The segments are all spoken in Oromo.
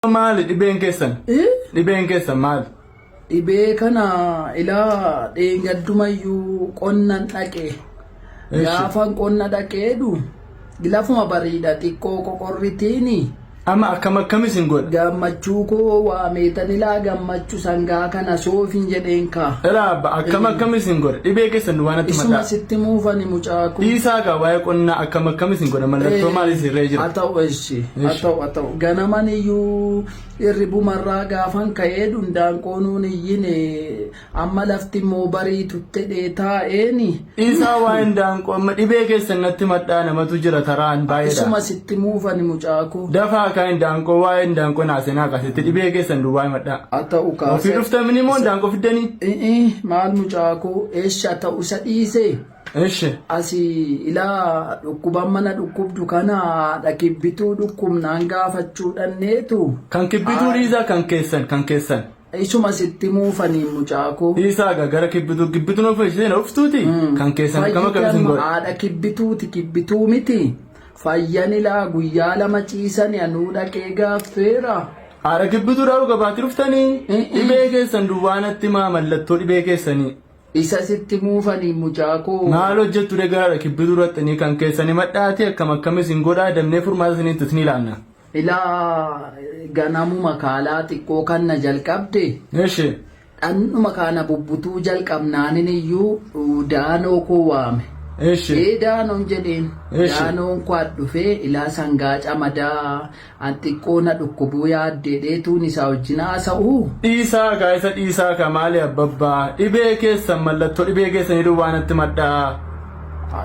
Maali dhibeen keessan? Dhibeen keessan maali? Dhibee kana ilaa dheengaddumayyuu qonnan dhaqe. Gaafan qonna dhaqeedhu lafuma bariidha xiqqoo qoqorritiini. Amma akkam akkam isin godha? Gammachuu koo waa meetan ilaa gammachuu sangaa kana soofin jedheen kaa. Ilaa abba akkam akkam isin godha? Dhibee keessan duwwaa natti Isuma mataa. sitti muufani mucaa koo. Dhiisaa gaa waa'ee qonnaa akkam akkam isin godha? Mallattoo maal isin irra jira? Haa ta'u eessi. Haa Eessi. ta'u haa ta'u. Ganamaniyyuu irribumarraa gaafan ka'ee dundaanqoonuun iyyine amma lafti immoo bariituttedhee taa'eeni. Dhiisaa waa hin daanqoo amma dhibee keessan natti madhaa namatu jira taraan baay'eedha. Isuma sitti muufani mucaako. Dafaa kaa hin daanqoo waa hin daanqoo naasenaa kaasitti dhibee keessan duwwaa hin madhaa. Haa ta'u Ofii kaasa. dhuftamini moo hin daanqoo fiddanii? I'i maal mucaako eesha ta'u isa dhiisee. Eshi. Asi ilaa dhukkuban mana dhukkubdu kana haadha kibbituu dhukkubnaan gaafachuu dhanneetu. Kan kibbituu dhiisaa kan keessan kan keessan. Isuma sitti muufaniin mucaakoo. Dhiisaa gaa gara kibbituu kibbituu nuuf isheen uftuuti kan keessan akkam akkam isin godha. Haadha kibbituuti kibbituu miti. Fayyan ilaa guyyaa lama ciisani anuu dhaqee gaaffeera. Haadha kibbituu dhaa'u gabaatti dhuftanii dhibee keessan duwwaanatti maa mallattoo dhibee keessanii. Isa sitti muufani mucaa koo. Maal hojjettu degaraadha kibbituu irrattanii kan keessan himadhaati akkam akkam isin godhaa damnee furmaata isiniin tasnii laanna. Ilaa ganamuma kaalaa xiqqoo kanna jalqabde Eshi. dhannuma kaana bubbutuu jalqabnaanin iyyuu daanoo koo waame. Eshi. Ee daanoon jedheen Eshi. daanoon koo adhufee ilaa sangaa camadaa An xiqqoo na dhukkubuu yaaddee dheetuun isaa wajjin haasa'uu? Dhiisaa kaa isa dhiisaa kaa maali abbabbaa dhibee keessan mallatto dhibee keessanii duwwaa natti madhaa.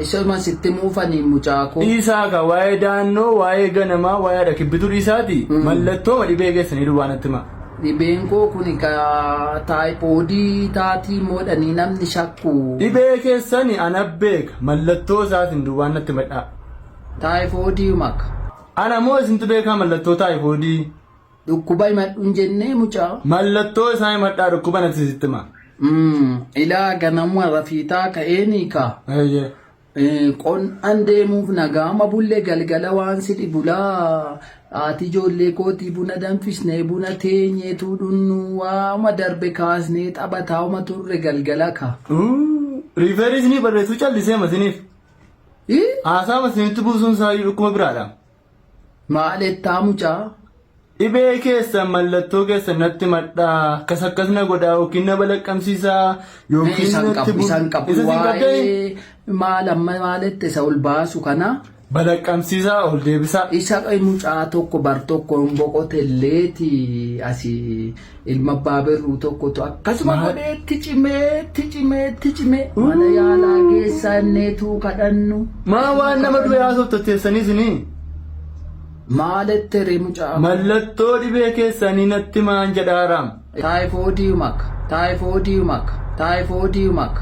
Isuma sitti himuu faniin mucaa koo. Dhiisaa kaa waa'ee daannoo waa'ee ganamaa waa'ee haadha kibbituu dhiisaati mallattooma dhibee keessanii duwwaa natti himaa. Dhibeen koo kuni ka taayipoodii taatii moodhanii namni shakku. Dhibee keessani ana beeka mallattoo isaatiin duwwaa natti madhaa. Taayifoodii maka. Ana moo isintu beekaa mallattoo taayifoodii? Dhukkuba himadhu hin jennee mucaa. Mallattoo isaa himadhaa dhukkuba natti sitti hima. Mm, Ilaa ganamuma rafiitaa ka'eenii kaa. Eeyyee. Eh, Qonnaan deemuuf nagaama bulle galgala waan si dhibulaa haati ijoollee kootii buna danfisnee buna teenyeetuu dhunnu waama darbe kaasnee taphataa uma turre galgala ka. Uu, Riifeerii isinii barreessuu callisee masiniif. Haasaama isinitti buusuun isaayyuu dhukkuba biraadha. Maaleettaa mucaa. Dhibee keessan mallattoo keessan natti madhaa akkas akkas na godhaa yookiin na balaqqamsiisaa yookiin Isaan natti qabu, bu- isaan qabu. Isa siin qabdee Waa'ee maal amma maaleetti isa ol baasu kana balaqqamsiisaa ol deebisaa. isa mucaa tokko bar tokko hin boqotelleeti asii Ilma abbaa birruu tokkotu akkasuma godhee itti cimee itti cimee itti cimee mana yaalaa geessaa inneetuu kadhannu. Maa waan nama du'e haasofta teessanii isinii? Maalette ree mucaa. Mallattoo dhibee keessanii natti maan jedhaaraam. Taayifoodii maka taayifoodii maka taayifoodii maka.